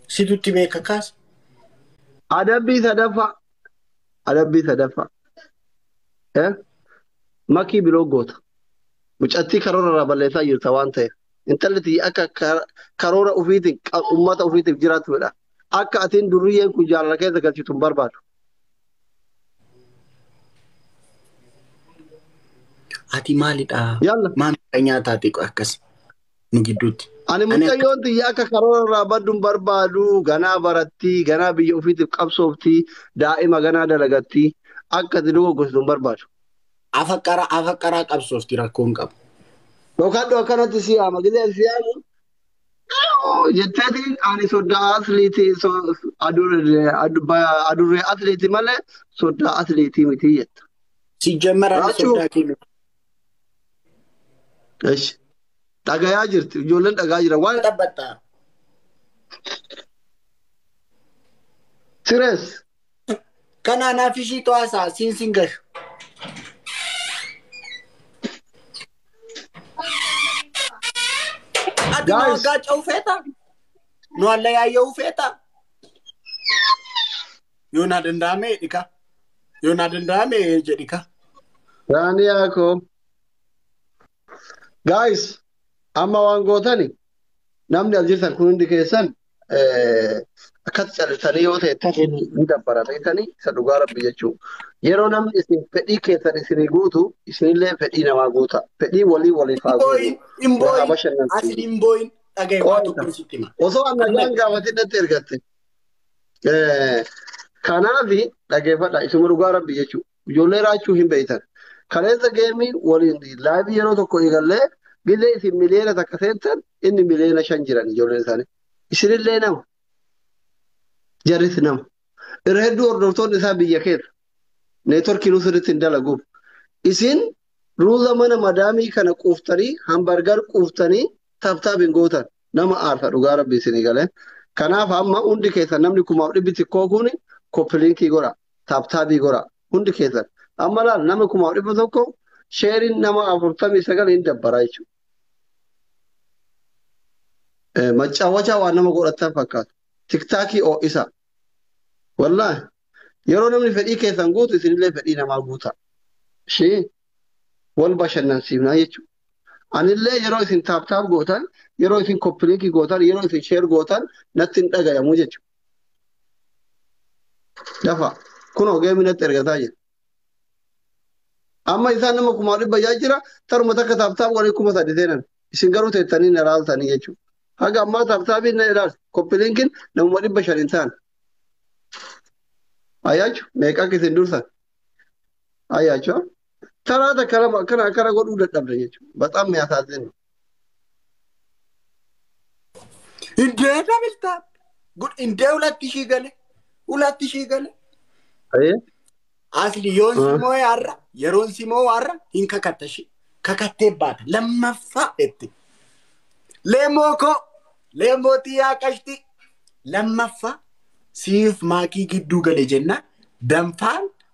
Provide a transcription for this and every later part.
Situtti beeka kaasa. Adabbii sadaffaa. Adabbii sadaffaa. Eh? Makii biloo goota. Mucattii karoora irraa balleessaa jirta waan ta'eef. Intalli tiyya akka kar- karoora ofiitiin qa- uummata ofiitiif jiraattu fedha. Akka atiin durriyyeen kun jaalala keessa galchitu hin barbaadu. Ati maalidha? Yalla. Maal miidha nyaataati akkas? ni gidduutti. Ani Ani akka mucayyoon tiyya akka karoora irraa baddu hin barbaadu. Ganaa baratti, ganaa biyya ofiitiif qabsoofti, daa'ima ganaa dalagatti. Akka ati dogoggorsitu hin barbaadu. afaqqara afaqqaraa qabsoofti rakkoo hin qabu. Dhokadhu akkanatti si yaama. Gizee ani si yaamu jetteetiin ani soddaa asliiti so- adurree adu- ba- adurree asliiti malee soddaa asliitii miti jetta. Sijjammer ani Raachuu soddaa kee miti. Eshi. Dhagayaa jirti. Ijoolleen dhagaa jira. Waan dhabbatta. Sires. Kanaa naaf ishii to'asaa siin siin gashu. Ati nu Guys. waggaa ce'uu feeta? Nu hallayaayya'uu feeta? Yoo naa danda'ame dhika. Yoo naa danda'ame jedhika. Daaniyaa koo. Guys, amma waan gootani namni as jirtan kun hundi keessan eh, akkas callisanii yoo teettan ni dabbara beektanii isa dhugaa rabbi jechuu. Yeroo namni isin fedhii keessan isinii guutu isinillee fedhii namaa guuta. Fedhii walii waliif haa guutu. Imbooyin, Waa haa imbooyin, asin bashannansiisu. imbooyin dhagaye waa Qo'ata. tokko sitti hima. Osoo an nagaan gaafatin natti ergatte. Kanaaf dhageeffadha isuma dhugaa rabbi jechuudha. Ijoollee raachuu hin beektan. Kaleessa geemii waliin laayivii yeroo tokko eegallee gillee isin miliyoona takka seentan inni miliyoona shan jiran ijoolleen isaanii. Isinillee nama. Jarris nama. Irra hedduu hordoftoonni isaa biyya keessa. Neetworkiinuu sirriitti hin dalaguuf. Isin ruuza mana madaamii kana quuftanii hambargar quuftanii taaptaap hin gootan. Nama aarsa dhugaa rabbi isinii galee. Kanaaf amma hundi keessan namni kumaaf dhibbi xiqqoo kun koppiliinkii godha. Taaptaabii godha. Hundi keessan. Amma laal nama kumaaf dhibba tokko sheeriin nama afurtamii sagal hin dabbara jechuudha. Maccawwachaa waan nama godhattan fakkaatu. Tiktaakii oo'isa. Wallaahi. Yeroo namni fedhii keessan guutu isinillee fedhii namaa guuta. Ishii wal bashannansiifnaa jechuudha. Anillee yeroo isin taap taap gootan, yeroo isin koppiliikii gootan, yeroo isin sheer gootan natti hin dhagayamu jechuudha. Dafa kunoo geemii natti ergataa jira. Amma isaan nama kumaa dhibba yaa jira taruma takka taap taap walii kuma sadi seenan. Isin garuu teettanii na ilaaltanii jechuudha. Haga ammaa taap taapiin na ilaalta. Koppiliinkiin namuma dhibba shan hin taane. Ayaachu meeqa akka isin dursan. Ayaachu. Taraa takka lama akkana akkana godhuu dadhabna jechuudha. Baxaam ni hasaaseen. Indee dabaltaa. Gud indee ulatti ishii gale. Ulatti ishii gale. Ayee. Asli yoon Ah. simoo har'a yeroon simoo har'a hin kakatta ishii. Kakattee baata. Lammaffaa jetti. Leemoo koo. Leemoo xiyyaa qashti. Lammaffaa siif maakii gidduu gale jennaan danfaan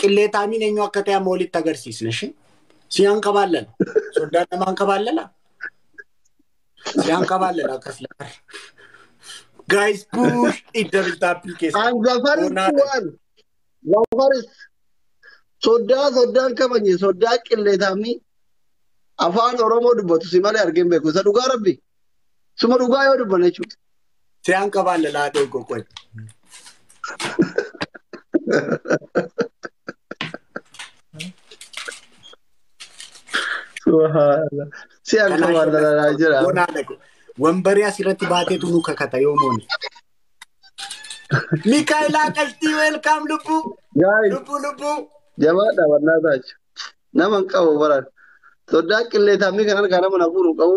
Qilleexaamiin eenyu akka ta'e amma walitti agarsiisna ishee. Si hanqabaan lala. Soddaan nama hanqabaan lala. Si hanqabaan lala akkas lala. Guys push it double tapping keessa. And the first Bonaa dha. one, the first. Soddaa soddaan kabanye soddaa qilleexaamni afaan Oromoo dubbatu si malee argee hin beeku. Isa dhugaa rabbi. Suma dhugaa yoo dubbanne jechuudha. Siyaan qabaan lalaa ta'e qoqqoy. Subhaanallah. Si akka Kanaa waan jala- lalaa jira. Bonaa dhaqu. Wambarii asirratti baateetu nu kakata yoo moone. Mikaayilaa qashtii weelkaam lubbuu. Gaa'ii Lubbuu lubbuu. jabaadha wannaa taachu. Nama hin qabu baran. Soddaa qillee tammii kan harkaa nama na fuudhu hin qabu.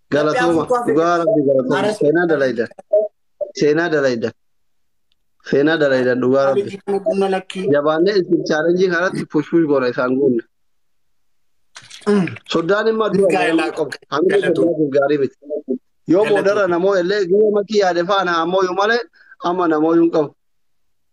Galatooma dhugaa rabbi galatooma seenaa dalayda seenaa dalayda seenaa dalayda dhugaa rabbi Qonna lakkii. jabaannee isin chaalenjii kanatti pushpush goona isaan goonna. Soddaan immoo adduma Milkaa'ina nama qaba. qaba. Hamilee Galatooma. soddaatiif gaarii miti. Yoo Galatooma. boodara namoo illee guyyaa makii yaade faana ammoo yoo malee amma namoo yoo hin qabu.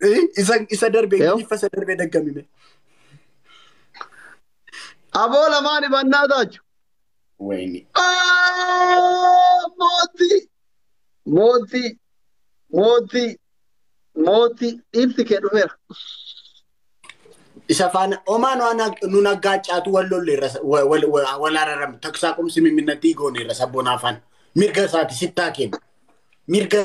Eh, Isa isa darbe Yoo. ingiliffa isa darbe daggamime. Aboo lamaan ibannaa taachu. Wayne. Ah, Mootii! Mootii! Mootii! Mootii! Dhiirti kee dhufeera. Isa faana omaa nu ana- nu naggaaccaatu wal lolle irra sa- wa- wal- wa- wal araram taksaa qumsi mimminnatti goone irra sabboonaa faana. Mirga isaati sittaa kenna. Mirga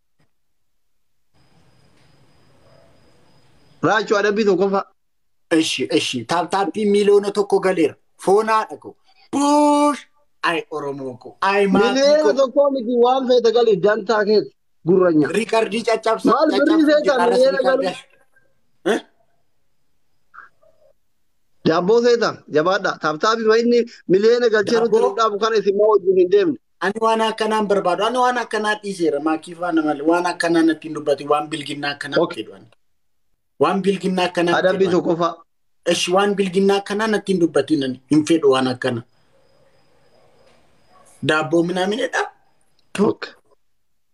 Raachuu adabbii tokkoffaa. Eshi eshi taaptaappii miliyoona tokko galeera. Foonaadha koo. Buush! Ay Oromoo koo. Ay maatii Miliyoona koo. tokkoo miti waan feete galii dantaa keeti gurranya. Riikardii caccabsa. Maal birrii caccabsa seetaa jiraarras miliyoona riikardii. galuu? Daabboo seetaa jabaadhaa. Taaptaappii ma inni miliyoona galchee nutti Daabboo? nu dhaabu kana isin maa wajjin hin deemne. Ani waan akkanaa hin barbaadu. Ani waan akkanaa dhiiseera. Maakii faana malee waan akkanaa natti hin dubbati. Waan bilginnaa akkanaa Ok. jedhu ani. Waan bilginnaa akkanaa jedhu Adabbii ani. tokkoffaa. Esh waan bilginnaa akkanaa natti hin dubbatiin ani. Hin fedhu waan akkana. Daabboo minaaminedha. Ok.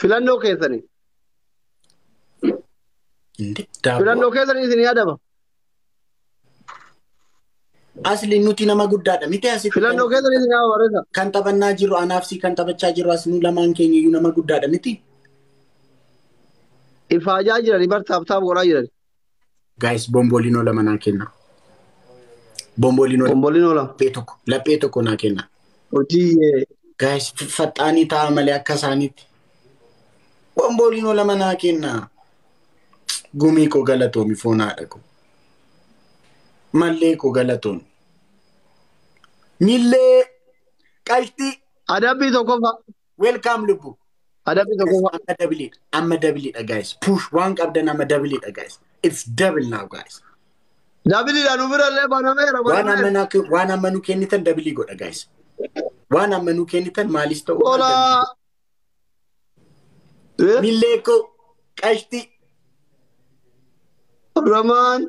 Filannoo keessanii. Inde daaboo. Filannoo keessanii isin yaadama. Asli nuti nama guddaadha miti asitti Filannoo kan- keessanii isin yaadama barreessa. kan taphannaa jirru anaaf si kan taphachaa jirru as nu lamaan keenya iyyuu nama guddaadha miti. Ifaajaa jiranii bar taaptaap godhaa jiranii. Gaayis boombooliinoo lama naa kenna. Boombooliinoo Bomboliinoo lama. laphee tokko laphee tokko naa kenna. Hojii eh, Gaayis faxaanii ta'a malee akka isaaniitti. Boombooliinoo lama naa kenna. Gumii koo galatoomi foon haadha koo. Mallee koo galatoomi. Millee qalxii adabbii tokkoffaa. Welcome lubbu. Adabbii tokko Guys, amma dabiliidha. Amma dabiliidha guys. Push waan qabdan amma dabiliidha guys. It's double now guys. dabiliidha nu bira illee banameera Waan amma banameera. naa- waan amma nu kennitan dabilii godha guys. Waan amma nu kennitan maalis ta'u. maal Ola. dabilii. Millee koo qashtii. Ramaan.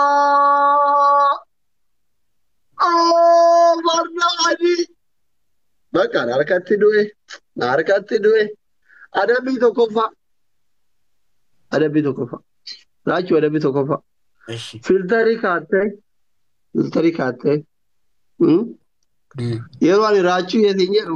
obsaa oo warra adii bakka na harkatti du'e na harkatti du'e adabbii tokkoffaa adabbii tokkoffaa laachuu adabbii tokkoffaa Eshi. filtarii kaattee filtarii kaattee hmm? yeroo ani raachuu yeetiin jedhu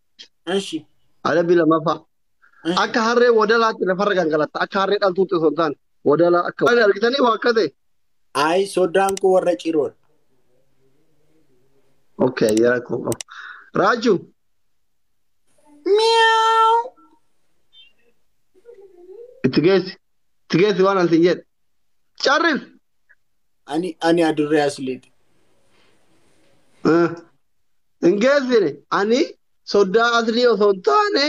Eshi. Adabbii lammaffaa. Akka harree wadalaatti lafarra gangalatta. Akka harree dhaltuutti osoo hin taane wadalaa akka. Waan argitanii waa akka ta'e. Ayi soddaan koo warra ciroodha. Okay, ayyara koo qabu. Raaju. Miyaau. Itti geessi. Itti geessi waan ansin jedhe. Carril. Ani ani adurree asliiti. Ah. Hin geessine ani soddaa aslii osoo hin taane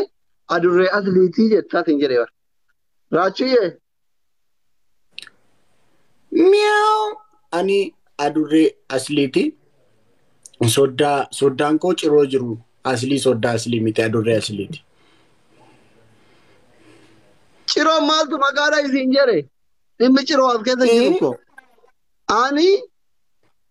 adurree asliitii jettaa sin jedhe bara. Raachuyyee. Miyaa'u ani adurree asliiti. Soddaa soddaan koo ciroo jiru aslii soddaa aslii miti adurree asliiti. Ciroon maaltu maqaadha isin jedhe dhimmi ciroo as keessa jiru koo. Ani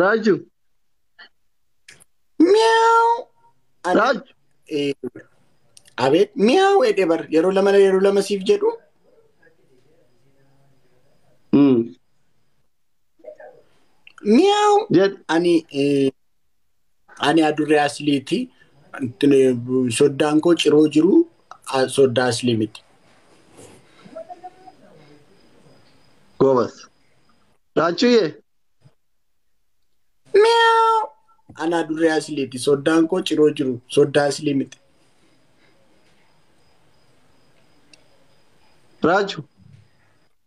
Raaju. Miau. Ani- Raaju. Eh, Abeet miau jedhe bar yeroo lama yeroo lama siif jedhu Mm. miau Jedh. ani eh, Ani adurree asliiti. Soddaan koo ciroo jiru soddaa aslii miti. Goobas. Raachuuyyee. Miyaa'u. Ani adurree asliiti. Soddaan koo ciroo jiru soddaa aslii miti. Raachu.